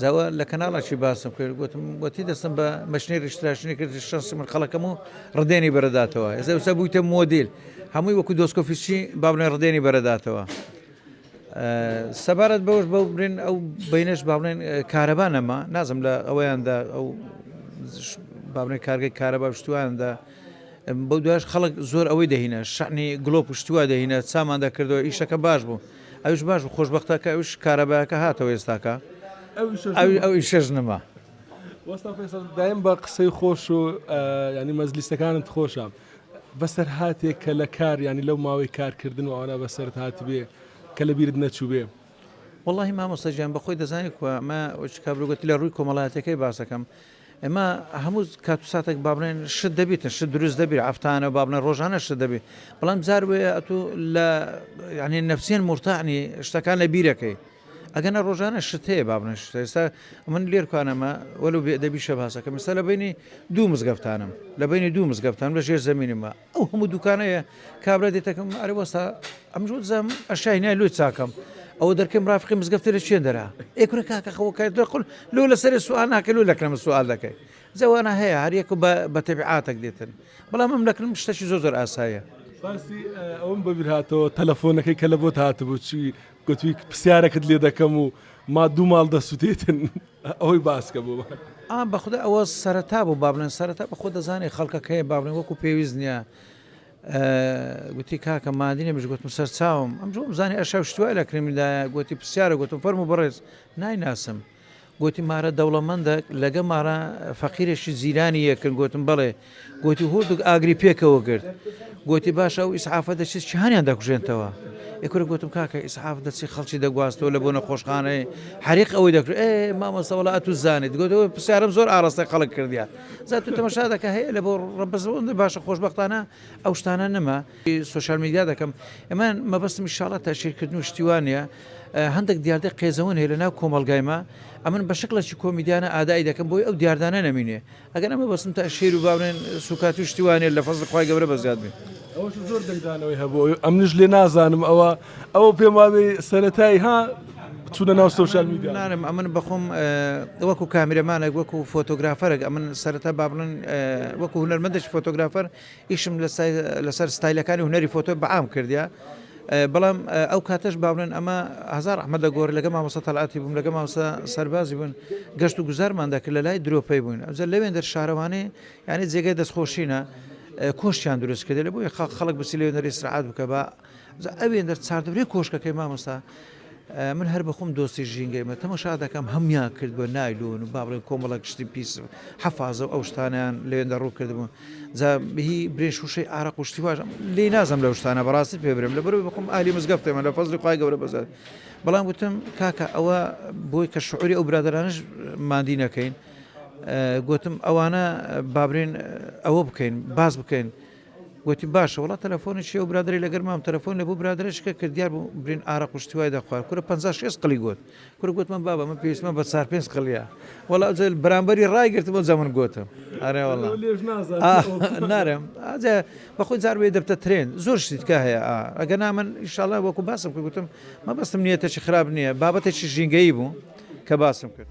جا وا لە کەناڵەکی باسم کرد گۆتم وەتی دەستم بە مەشنێری شتراشنی کرد شەنسی من خەڵەکەم و ڕدێنی بەرەداتەوە ئێزە وسە بوویتە مۆدیل هەمووی وەکو دۆسکۆفیسچی بابنێ ڕدێنی بەرەداتەوە سەبارەت بەوەش بەو برێن ئەو بینش باڵێن کارەبا نەما نازم لە ئەوەیاندا ئەو باڵێ کارگەی کارەبا شتواندا بەو دوش خەڵک زۆر ئەوەی دەهینە شعنی گلۆپ شتووە دەهینە سامان دەکردەوە ئیشەکە باش بوو ئەویش باش بوو خۆشبەختە کە ئەویش کارەبایەکە هاتەوە ئێستاکە ئەویشەش نەما. وەستا فێسەڵ دایم بە قسەی خۆش و ینی مەزلیستەکانت خۆشە بەسەر هااتێک کە لە کار ینی لەو ماوەی کارکردن و ئەوانە بەسەر هاات بێ کە لە بیرت نەچووبێ واللهی مامۆستەجیان بەخۆی دەزانانی کووە ئەمە کابرگوتی لە ڕووی کۆمەڵاتەکەی باسەکەم ئێمە هەموو کات و ساتێک با بڵێن شت دەبیتن شت دروست دەبیت عەفتانە با بڵێن ڕۆژانە شت دەبیت بەڵام جار وەیە ئەتوو لە یعنی نەفسیەن مرتاعنی شتەکان لە بیرەکەی ئەگەنە ڕۆژانە شت هەیە با بڵێن شت ئێستا من لێرکانەمە وەلو بێدەبی شەباسەکەم ئێستا لە بینی دوو مزگەفتانم لە بینی دوو مزگەفتان لە ژێر زمینمە ئەو هەموو دوکانەیە کابرا دێتەکەم ئەرە وەستا ئەم جۆ دزم ئەشای نای لۆی چاکەم ئەوە دەرکەم ڕافقی مزگەفتی لە چێن دەرا ئێکورە کاکە خەوەکای دەقل لۆ لەسەر سوال ناکە لۆ لەکەم سوال دەکەی جەوانە هەیە هەریەکە بە تەبیعاتەک دێتن بەڵام ئەم لەکرم شتەشی زۆر زۆر ئاسایە. باسی ئەوم بەبیرهاتەوە تەلەفۆنەکەی کە لە بۆت هاتبوو چی گوتی پسیارەکت لێ دەکەم و ما دوو ماڵ دەسوتێتن ئەوەی باسکە بۆمان. ئا بەخودا ئەوە سەرەتا بوو بابلێن سەرەتا بەخۆ دەزانێ خەڵکە کەێ بابلێن وەکو پێویست نییە گوتی کاکە مادینە مش گوتم سەرچاوم ئەم جۆم زانانی ئەشە شتوای لە کرێمیدایە گوتی پرسیارە گوتم فەرم و بڕێز نایناسم گۆتی، مارە دەوڵەمەندە لەگە مارە فەقیرەشی جیرانی یەکن، گۆتم، بەڵێ، گۆتی، هوردوگ ئاگری پێکەوە گرت، گۆتی، باشە ئەو ئیسعافە دەچێت چیهانیان دەکوژێنتەوە؟ ئێ کورە گۆتم، کاکە ئیسعاف دەچێت خەڵکی دەگواستەوە لە بۆ نەخۆشخانەێ حەریق ئەوەی دەکرد، ئێ مامۆستا وەڵا ئەتوو زانیت، گۆتی، ئەوە پسیارم زۆر ئاڕاستەی خەڵک کردیە، جا توو تەمەشا دەکە هەیە لە بۆ ڕەبەز ئەوەندە باشە خۆشبەختانە ئەو شتانە نەما، سۆشیال میدیا دەکەم، ئێ من مەبەستم ئیشاڵا تەشهیر کردن و شتی وا نیە، هەندەک دیاردەی قێزەون هەیە لەناو کۆمەڵگای ما ئەمن بە شکڵەکی کۆمیدیانە ئادائی دەکەم بۆی ئەو دیاردانە نەمینێ ئەگەر ئەمە بەسم تا شێر و باونێن سوکات و شتی وانێ لە فەزڵی خوای گەورە بە زیاد بێ. ئەوەش زۆر دەنگدانەوەی هەبوو ئەمنیش لێ نازانم ئەوە ئەوە پێم وابێ سەرەتایی ها چونە ناو سوشال میدیا نانم ئەمن بەخۆم وەکو کامیرەمانێک وەکو فۆتۆگرافەرێک ئەمن سەرەتا بابڵن وەکو هونەرمەندش فۆتۆگرافەر ئیشم لەسەر ستایلەکانی هونەری فۆتۆ بەعام کردیە بەڵام ئەو کاتەش باڵێن ئەمە هزار ئەحمە دەگۆر لەگە مامۆستا تەلاتی بووم لەگە ماوسە سەربازی بوون گەشت و گوزارمان دەکرد لە لای درۆپەی بوون ئەجە لەوێن دەر شارەوانێ یعنی جێگەی دەستخۆشینە کۆشتیان دروست کردێ لە بۆی خەڵک بچی لێ نەری سرعات بکە بە جا ئەوێندە چاردەورەی کۆشکەکەی مامۆستا من هەر بە خۆم دۆستی ژینگەیمە تەمەشا دەکەم هەموان کرد بە نایلۆن و با بڵێن کۆمەڵە گشتی پیس حەفاازە ئەو شتانیان لەوێندە ڕوو کردبوو جا بهی برێ شوشەی ئارە قوشتی واژ لی نازم لەو شتانە بەڕاستی پێ برم لە بەر بخۆم ئالی مزگەفتێمە لە فەزلی خخوای گەورە بەزار بەڵام وتم کاکە ئەوە بۆی کە شعوری ئەو برادرانش مادی نەکەین گوتم ئەوانە بابرێن ئەوە بکەین باز بکەین گۆتی، باشە وەڵا تەلەفۆنی چیە ئەو برادەرەی لەگەر مام تەلەفۆنی لە بۆ برادەرە شکە کرد دیار بوو برین ئارەق و شتی وای دەخوارد کورە پەنجا شێست قلی گۆت کورە گۆتمە بابە من پێویستمە بە چار پێنج قلیە وەڵا ئەوجە بەرامبەری ڕای گرتم ئەوجا من گۆتم ئەرێ وەڵا ئەو لێش نازات ئا ئەو قسە نارم ئەجە بەخۆی جار وێ دەبتە ترێن زۆر شتی تکا هەیە ئا ئەگەر نا من ئیشاڵا وەکو باسم کرد گۆتم مەبەستم نیەتێکی خراپ نییە بابەتێکی ژینگەیی بوو کە باسم کرد.